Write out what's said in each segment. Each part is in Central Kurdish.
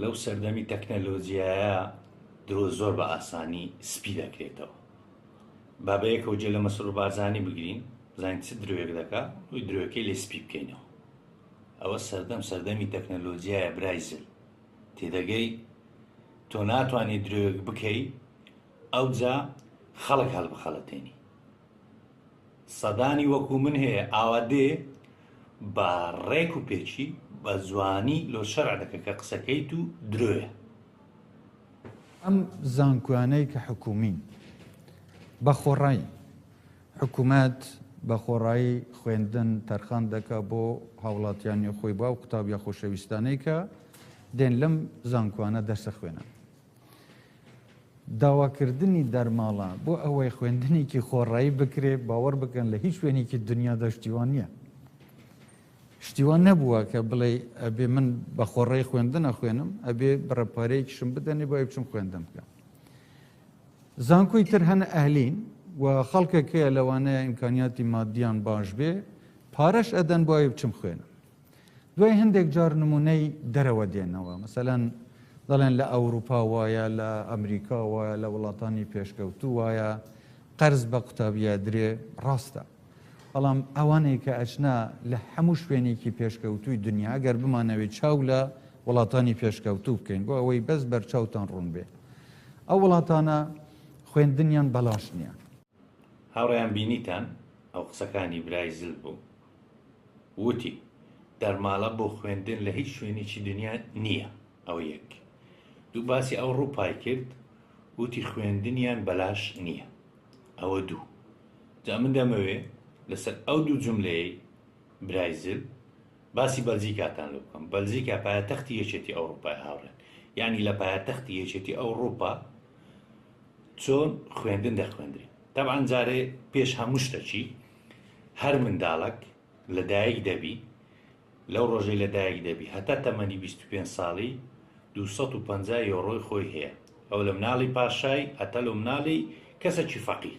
لەو سەردەمی تەکنەلۆجیایە درۆ زۆر بە ئاسانی سپی دەکرێتەوە با بە یەکەوە جێ لە مەسرور بارزانی بگرین بزانین چ درۆیەک دەکا وی درۆیەکەی لێ سپی بکەینەوە ئەوە سەردەم سەردەمی تەکنەلۆجیایە برای زل تێدەگەی تۆ ناتوانانی درۆیەک بکەی ئەوجا خەڵک هەڵبخەڵەتێنی سەدانی وەکو من هەیە ئاوا دێ بە ڕێک و پێکی بە جوانی لۆ شەرع دەکە کە قسەکەیت و درۆیە. ئەم زانکۆیانەی کە حکوومین بە خۆڕایی حکوومەت بە خۆڕایی خوێندن تەرخان دەکا بۆ هاوڵاتیانی خۆی با و قوتابیە خۆشەویستانەی کە دێن لەم زانکۆانە دەرسە خوێنن. داواکردنی دەرماڵە بۆ ئەوەی خوێندنێکی خۆڕایی بکرێ باوەڕ بکەن لە هیچ شوێنێکی دنیادا شتیوان نییە شتیوان نەبووە کە بڵێ ئەبێ من بە خۆڕێ خوێندنە خوێنم ئەبێ بڕەپارەیەکیشم بدەنێ بۆ بچم خوێندن بکەم زانکۆی تر هەنە ئەهلین و خەڵکێکەیە لەوانەیە ئیمکانیاتی مادیان باش بێ پارەش ئەدەن بۆ بچم خوێنم دوای هەندێک جار نمونەی دەرەوە دێنەوە مەسەلەن دەڵێن لە ئەوروپا وایە لە ئەمریکا وایە لە وڵاتانی پێشکەوتو وایە قەرز بە قوتابیە درێ ڕاستە بەڵام ئەوانەی کە ئەچنا لە هەموو شوێنێکی پێشکەوتوی دنیا گەر بمانەوەی چاو لە وڵاتانی پێشکەوتو بکەین بۆ ئەوەی بەس بەرچاوتان ڕوون بێ ئەو وڵاتانە خوێندنیان بەلاش نییە هاوڕێیان بینیتان ئەو قسەکانی برای زل بوو وتی دەرماڵە بۆ خوێندن لە هیچ شوێنێکی دنیا نییە ئەوە یەک دوو باسی ئەو ڕووپای کرد وتی خوێندنیان بەلاش نییە ئەوە دوو جا من دەمەوێ لەسەر ئەو دوو جملەیە برای زل باسی بەلجیکاتان لە بکەم بەلجیکا پایتەختی یەکێتی ئەوروپای هاوڕێن یعنی لە پایتەختی یەکێتی ئەوروپا چۆن خوێندن دەخوێندرێت تەبعەن جارێ پێش هەموو شتەکی هەر منداڵک لە دایک دەبی لەو ڕۆژەی لە دایک دەبی هەتا تەمەنی 25 ساڵی 250 یۆڕۆی خۆی هەیە ئەو لە مناڵی پاشای هەتا لە مناڵی کەسەکی فەقیر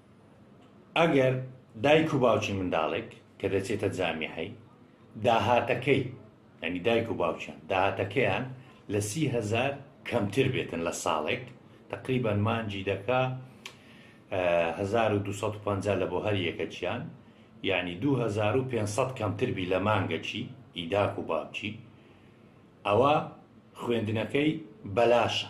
ئەگەر دایک و باوکی منداڵێک کە دەچێتە جامیعەی، داهاتەکەی، یانی دایک و باوکیان، داهاتەکەیان لە سی هەزار کەمتر بێتن لە ساڵێک، تەقریبەن مانگی دەکا هەزار و دوو سەد و پەنجا لە بۆ هەر یەکەکیان، یانی دوو هەزار و پێنج سەد کەمتر بی لە مانگەکی ئی داک و باوکی، ئەوا خوێندنەکەی بەلاشە.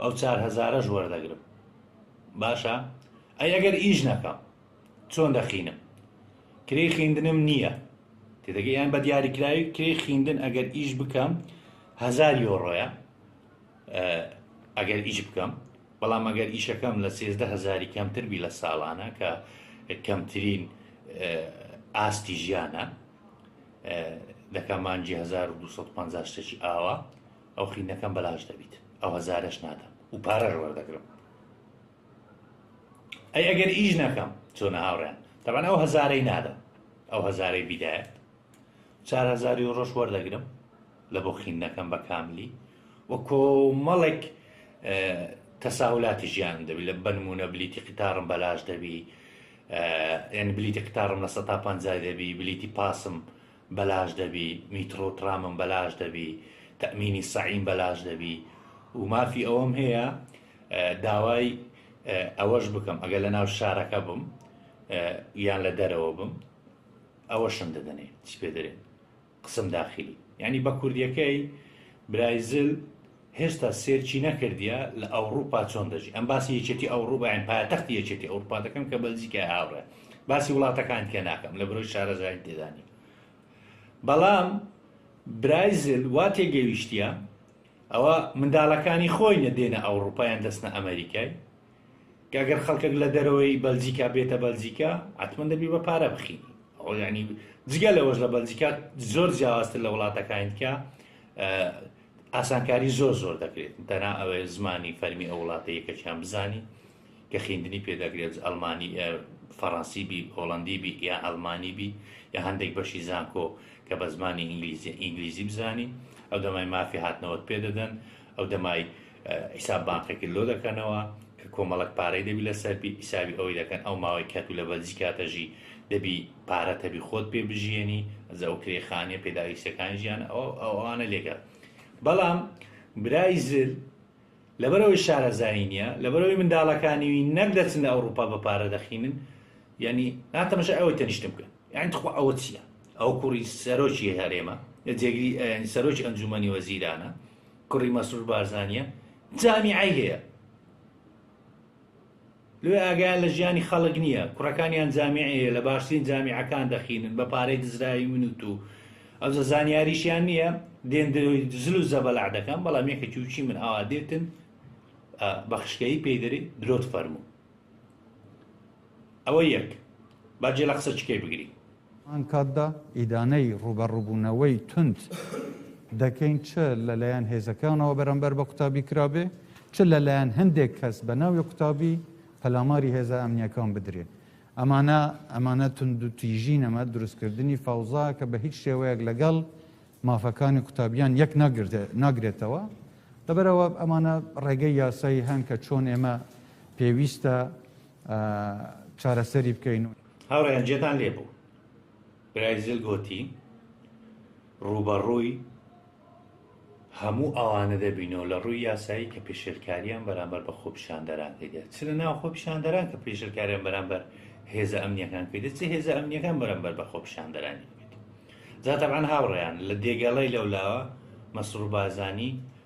ئەو چار هەزارەش وەردەگرم باشە ئەی ئەگەر ئیش نەکەم چۆن دەخینم کرێی خیندنم نییە تێدەگە یان بە دیاریکراوی کرێی خیندن ئەگەر ئیش بکەم هزار یۆڕۆیە ئەگەر ئیش بکەم بەڵام ئەگەر ئیشەکەم لە سێزدە هزاری کەمتر بی لە ساڵانە کە کەمترین ئاستی ژیانە دەکەمانجی 1250 شتێکی ئاوە ئەو قینەکەم بەلاش دەبیت ئەو هەزارەش نادەم و پارەش وەردەگرم ئەی ئەگەر ئیش نەکەم چۆنە هاوڕێن تەبان ئەو هەزارەی نادەم ئەو هەزارەی بیدایەت چار هەزاری و ڕۆژ وەردەگرم لە بۆ خین نەکەم بە کاملی و کۆمەڵێک تەساولاتی ژیان دەبی لە بنمونە بلیتی قیتارم بەلاش دەبی یعنی بلیتی قیتارم لە سە تا پ دەبی بلیتی پاسم بەلاش دەبی میتڕۆو تڕامم بەلاش دەبی تەئمینی سەعیم بەلاش دەبی و مافی ئەوەم هەیە داوای ئەوەش بکەم ئەگەر لە ناو شارەکە بم یان لە دەرەوە بم ئەوەشم دەدەنێ چی پێ دەێن قسم داخلی یعنی بە کوردیەکەی برایزل هێشتا سێرچی نەکردیە لە ئەوڕوپا چۆن دەژی ئەم باسی یەکێتی ئەوڕوپا یان پایەتەختی یەکێتی ئەوڕوپا دەکەم کە بەلجیکای هاوڕێ باسی وڵاتەکان تێ ناکەم لە برۆی شارەزایی تێدانی بەڵام برایزل وا تێگەویشتە ئەوە منداڵەکانی خۆی نەدێنە ئەوڕوپایان دەستنە ئەمریکای گەگەر خەڵکێک لە دەرەوەی بەلجیکا بێتە بەلجیکا ئەتمن دەبی بە پارە بخین ئەو ینی جگە لەوەش لە بەلجیکا زۆر جیاوازتر لە وڵاتەکانیکە ئاسانکاری زۆر زۆر دەکرێت تەنها ئەوێ زمانی فەرمی ئەو وڵاتە یەکەکیان بزانی کە خیندنی پێدەگرێت ئەلمانی فەڕەنسی بی هۆڵندی بی یا ئەلمانی بی یا هەندێک بەشی زانکۆ کە بە زمانی ئینگلیزی ئینگلیزی بزانی ئەو دەمای مافی هاتنەوەت پێدەدەن ئەو دەمای حیساب بانقێکی لۆ دەکەنەوە کە کۆمەڵک پارەی دەبی لەسەر بی حیسابی ئەوەی دەکەن ئەو ماوەی کەتو لە بەلجی کاتەژی دەبی پارەت هەبی خۆت پێ بژیێنی ئەجا ئەو کرێ خانیە پێداویستەکانی ژیان ئەوانە لێگە بەڵام برای زل لەبەرەوەی شارەزایی نیە لەبەرەوەی منداڵەکانیوی نەک دەچن لە ئەوروپا بە پارە دەخینن یعنی ناتەمەشە ئەوە تەنیشتم بکەن یعنی تخوا ئەوە چییە ئەو کوڕی سەرۆکی هەرێمە جێگری سەرۆکی ئەنجومەنی وەزیرانە کوڕی مەسرور بارزانە جامیعی هەیە لۆیە ئاگایان لە ژیانی خەڵک نیە کوڕەکانیان جامیعەیە لە باشترین جامیعەکان دەخینن بە پارەی دزراوی من و تو ئەوجە زانیاریشیان نیە دێن درۆی زل و زەبەلاح دەکەن بەڵام یەکە کیوچی من ئاوا دێتن بە خشکەیی پێی دەری درۆت فەرموو ئەوە یەک باجێ لە قسە چکەی بگری هەمان کاتدا ئیدانەی ڕووبەڕووبوونەوەی توند دەکەین چ لەلایەن هێزەکانەوە بەرامبەر بە قوتابی کرابێ چ لەلایەن هەندێک کەس بە ناوی قوتابی پەلاماری هێزە ئەمنیەکان بدرێت ئەمانە ئەمانە تونند و تیژی نەمە دروستکردنی فەوزا کە بە هیچ شێوەیەک لەگەڵ مافەکانی قوتابیان یەک ناگرێتەوە لەبەرەوە ئەمانە ڕێگەی یاسایی هەن کە چۆن ئێمە پێویستە چارەسەری بکەین. هاوڕێیان جێتان لێ بوو برای زل گۆتی ڕووبەڕووی هەموو ئەوانە دەبین و لە ڕووی یاسایی کە پێشێلکاریان بەرامبەر بە خۆپیشاندەران کردێت چ لە ناو خۆپیشاندەران کە پێشلکاریان بەرامبەر هێزە ئەمنیەکان کردێت چ هێزە ئەمنیەکان بەرامبەر بە خۆپیشاندەرانی جاتەبان هاوڕێیان لە دێگەڵی لەولاوە مەسرور بارزانانی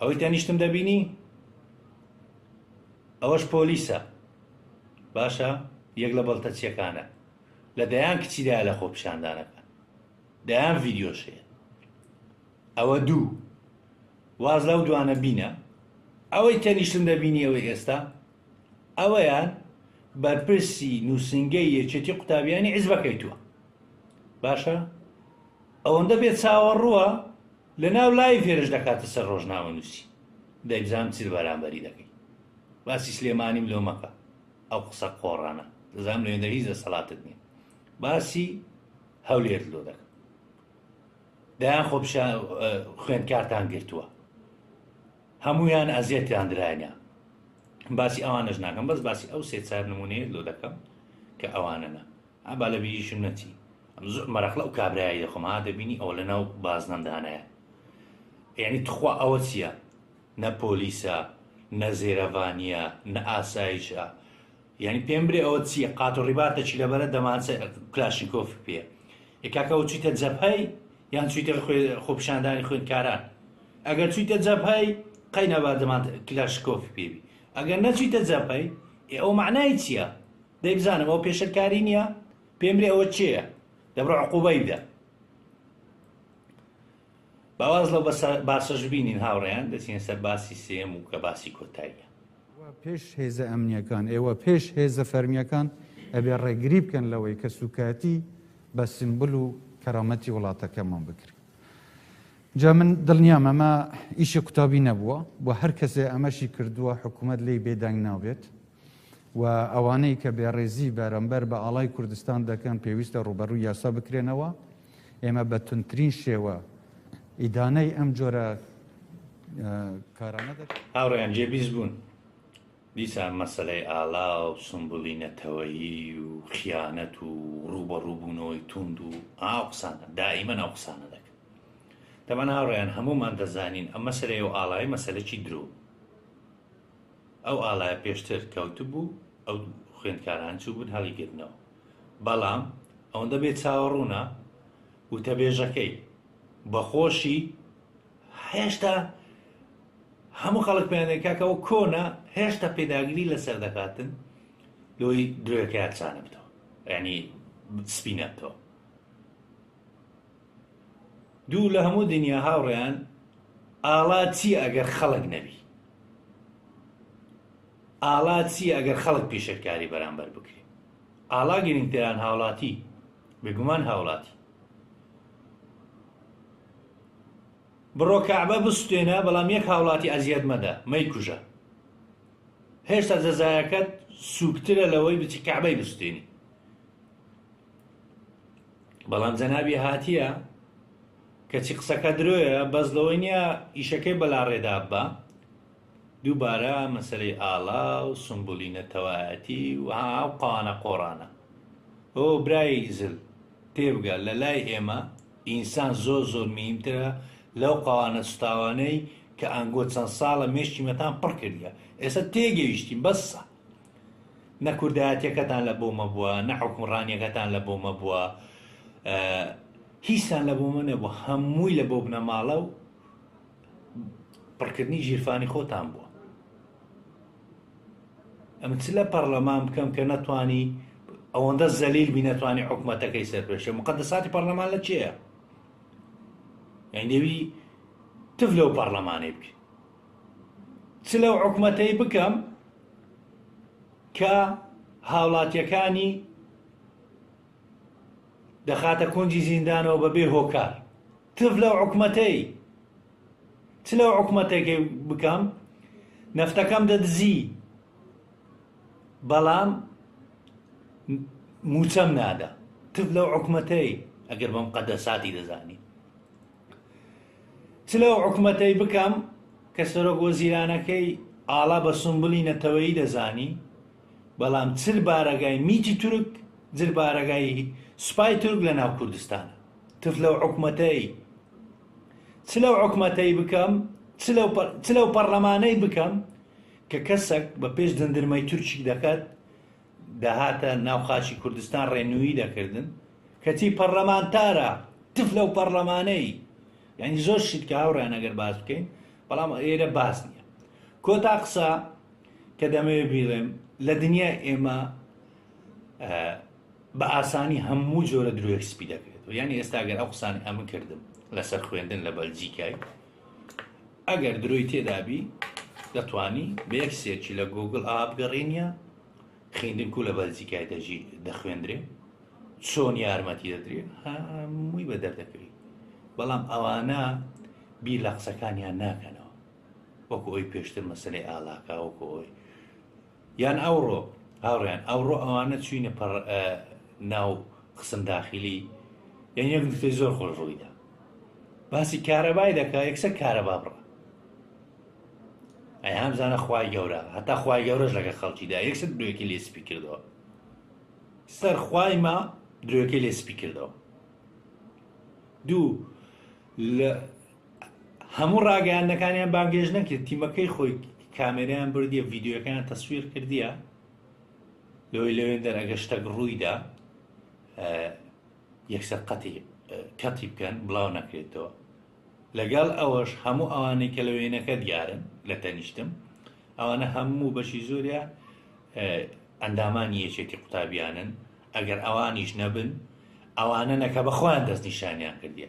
ئەوەی تەنیشتم دەبینی ئەوەش پۆلیسە باشە یەک لە بەڵتەچیەکانە لە دەیان کچیدا لە خۆ پیشاندانەکە دەیان ڤیددیۆشەیە ئەوە دوو واز لەو دوانە بینە ئەوەی تەنیشتم دەبینی ئەوەی ئێستا ئەوەیان بەرپرسی نووسنگەی یەکێتی قوتابیانی عزبەکەی تووە باشە ئەوەندە بێ چاوەڕووە لەناو لایڤ هێرش دەکاتە سەر ڕۆژنامەنووسی دەیبزانم چ بەرامبەری دەکەی باسی سلێمانیم لۆ مەکە ئەو قسە قۆڕانە دەزانم لە هێندە هیچ دەسەڵاتت نیە باسی هەولێرت لۆ دەکەم دایان خۆ خوێندکارتان گرتووە هەمویان ئەزیەتیان درایە باسی ئەوانەش ناکەم بەس باسی ئەو سێ چار نمونەیە لۆ دەکەم کە ئەوانەنا ها با لەبیریشم نەچی. ئەم زۆر مەرەقلە ئەو کابرایە دەخۆم ها دەبینی ئەوە لە ناو بازنەم دانایە یعنی تخوا ئەوە چییە نە پۆلیسە نە زێرەڤانیە نە ئاسایشە یعنی پێم برێ ئەوە چییە قات و ڕیباتە چی لەبەرە دەمانچە کلاشینکۆف پێ ی کاکەەوە چیتە جەپەی یان چیتر خۆپشاندانی خوێندکاران ئەگەر چیتە جەپەی قەینەبا دەمان کلاشکۆف پێبی ئەگەر نەچیتە جەپەی ئەو معنای چییە دەی بزانم ئەوە پێشەر کاری نییە پێم بلێ ئەوە چێە دەبڕ عقوبای بدە باواز لەو باسەش بینین هاوڕێیان دەچین سەر باسی سێم و کە باسی کۆتاییە پێش هێزە ئەمنیەکان ئێوە پێش هێزە فەرمیەکان ئەبێ ڕێگری بکەن لەوەی کە سوکایەتی بە سمبل و کەرامەتی وڵاتەکەمان بکرێت جا من دڵنیام ئەمە ئیشی قوتابی نەبووە بۆ هەر کەسێ ئەمەشی کردووە حکوومەت لی بێدەنگ نابێت و ئەوانەی کە بێڕێزی بەرەمبەر بە ئاڵای کوردستان دەکەن پێویستە ڕووبەڕووی یاسا بکرێنەوە ئێمە بە تونترین شێوە ئیدانەی ئەم جۆرە کارانە دەکەن هاوڕێیان جێبیست بوون دیسان مەسلەی ئالا و سمبولی نەتەوەیی و خیانەت و ڕووبەڕووبوونەوەی توند و ئاو قسانە دائیمە ناو قسانە دەکەن دەمەنا ڕێیان هەمومان دەزانین ئەم مەسلەیە و ئاڵای مەسلەکی درۆ ئەو ئاڵایە پێشتر کەوتبوو، ئەو خوێندکاران چووبوون هەڵیگرتنەوە. بەڵام ئەوەندە بێ چاوەڕوونە، وتەبێژەکەی بە خۆشی هێشتا هەموو خەڵک پێیان دەڵێن کاکە ئەوە کۆنە، هێشتا پێداگری لەسەر دەکاتن لۆی درۆیەکەیان چانە بتەوە، یانی سپی نەبتەوە. دوو لە هەموو دنیا هاوڕێیان ئاڵا چی ئەگەر خەڵک نەبی ئاڵا چی ئەگەر خەڵک پیشەکاری بەرامبەر بکری ئاڵا گرنگتران هاوڵاتی بێگومان هاوڵاتی بڕۆ کەعبە بستێنە بەڵام یەک هاوڵاتی ئەزیەت مەدە مەیکوژە هێشتا جەزایەکەت سوکترە لەوەی بچی کەعبەی بستێنی بەڵام جەنابی هاتیە کەچی قسەکە درۆیە بەس لەوەی نییە ئیشەکەی بەلاڕێدا بە دووبارە مەسەری ئاڵا و سمبولی نەتەوایەتی و ئاو قانە قۆڕانە ئۆ برای زل تێبگە لە لای ئێمە ئینسان زۆر زۆر میمترە لەو قاوانە سوتاوانەی کە ئەنگۆ چەند ساڵە مێشکی مەتان پڕ کردە ئێستا تێگەیشتین بەسە نە کوردایەتیەکەتان لە بۆ مەبووە نە حکومڕانیەکەتان لە بۆ مەبووە هیچتان لە بۆ من نەبوو هەمووی لە بۆ بنەماڵە و پڕکردنی ژیرفانی خۆتان بووە ئەم چ لە پەرلەمان بکەم کە نەتوانی ئەوەندە زەلیل بی نەتوانانی حکوومەتەکەی سەرپێشە مقدساتی پەرلەمان لە چێە یان دەوی تف لەو پەرلەمانێ بکە چ لەو حکومەتەی بکەم کە هاوڵاتیەکانی دەخاتە کونجی زیندانەوە بە بێ هۆکار تف لەو حکومەتەی چ لەو حکومەتێکی بکەم نەفتەکەم دەدزی بەڵام موچەم نادا تف لەو حکومەتەی ئەگەر بەم قەدە ساتی دەزانی چ لەو حکومەتەی بکەم کە سەرۆک وەزیرانەکەی ئاڵا بە سومبلی نەتەوەیی دەزانی، بەڵام چل بارەگای میتی تورک، جل بارەگای سوپای تورک لە ناو کوردستانە. تف لەو حکومەتەی. چ لەو حکومەتەی بکەم، چ لەو پە، چ لەو پەڕلەمانەی بکەم کە کەسەک بە پێش دندرمەی تورکیک دەکات، دەهاتە ناو خاکی کوردستان ڕێنووی دەکردن کەچی پەڕلەمانتارە تف لەو پەڕلەمانەی یعنی زۆر شت کە هاوڕیان ئەگەر باس بکەین بەڵام ئێرە باس نییە کۆتا قسە کە دەمەوێت بیڵێم لە دنیای ئێمە بە ئاسانی هەموو جۆرە درۆێک سپی دەکرێت یعنی ئێستاگەر ئەو قسانی ئەمن کردم لەسەر خوێندن لە بەلجیکای ئەگەر درۆی تێدابی دەتوانی بە یەک سێرچی لە گۆگل ئا بگەڕێنیە خیندن کو لە بەلجیکای دەژی دەخوێندرێ چۆن یارمەتی دەدرێ هەمووی بە دەردەکەوی بەڵام ئەوانە بی لە قسەکانیان ناکەنەوە وەکو ئەوی پێشتر مەسلەی ئالاکاوەکو ئەوی یان ئەوڕۆ هاوڕێیان ئەوڕۆ ئەوانە چوینە پەڕ ناو قسم داخلی یان یەک نکتەی زۆر خۆش ڕوویدا باسی کارەبای دەکا یەکسە کارەبا بڕە ئەی هەمزانە خوای گەورە هەتا خوای گەورەش لەگە خەڵکیدا یەکسەر درێکی لێ سپی کردەوە سەر خوای ما درێکی لێ سپی کردەوە دوو لە هەموو ڕاگەیاندنەکانیان بانگێش نەکرد تیمەکەی خۆی کامێریان بردیە ڤیددیوەکەیان تەسویر کردیە لەوەی لەوێن دەر ئەگە شتەک ڕوویدا یەکسەر قەتی کەتی بکەن بڵاو نەکرێتەوە لەگەڵ ئەوەش هەموو ئەوانەی کە لە وێنەکە دیارن لە تەنیشتم ئەوانە هەموو بەشی زۆرە ئەندامانی یەکێتی قوتابیانن ئەگەر ئەوانیش نەبن ئەوانە نەکە بەخۆیان دەستنیشانیان کردیە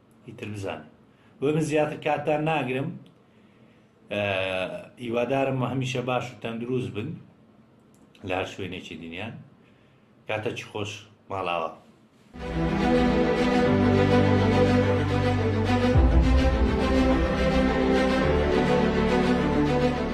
ئیتر بزانن بۆ من زیاتر کاتتان ناگرم ئیوادارم هەمیشە باش و تەندروست بن لە هەر شوێنێکی دنیا کاتە چی خۆش ماڵاوە.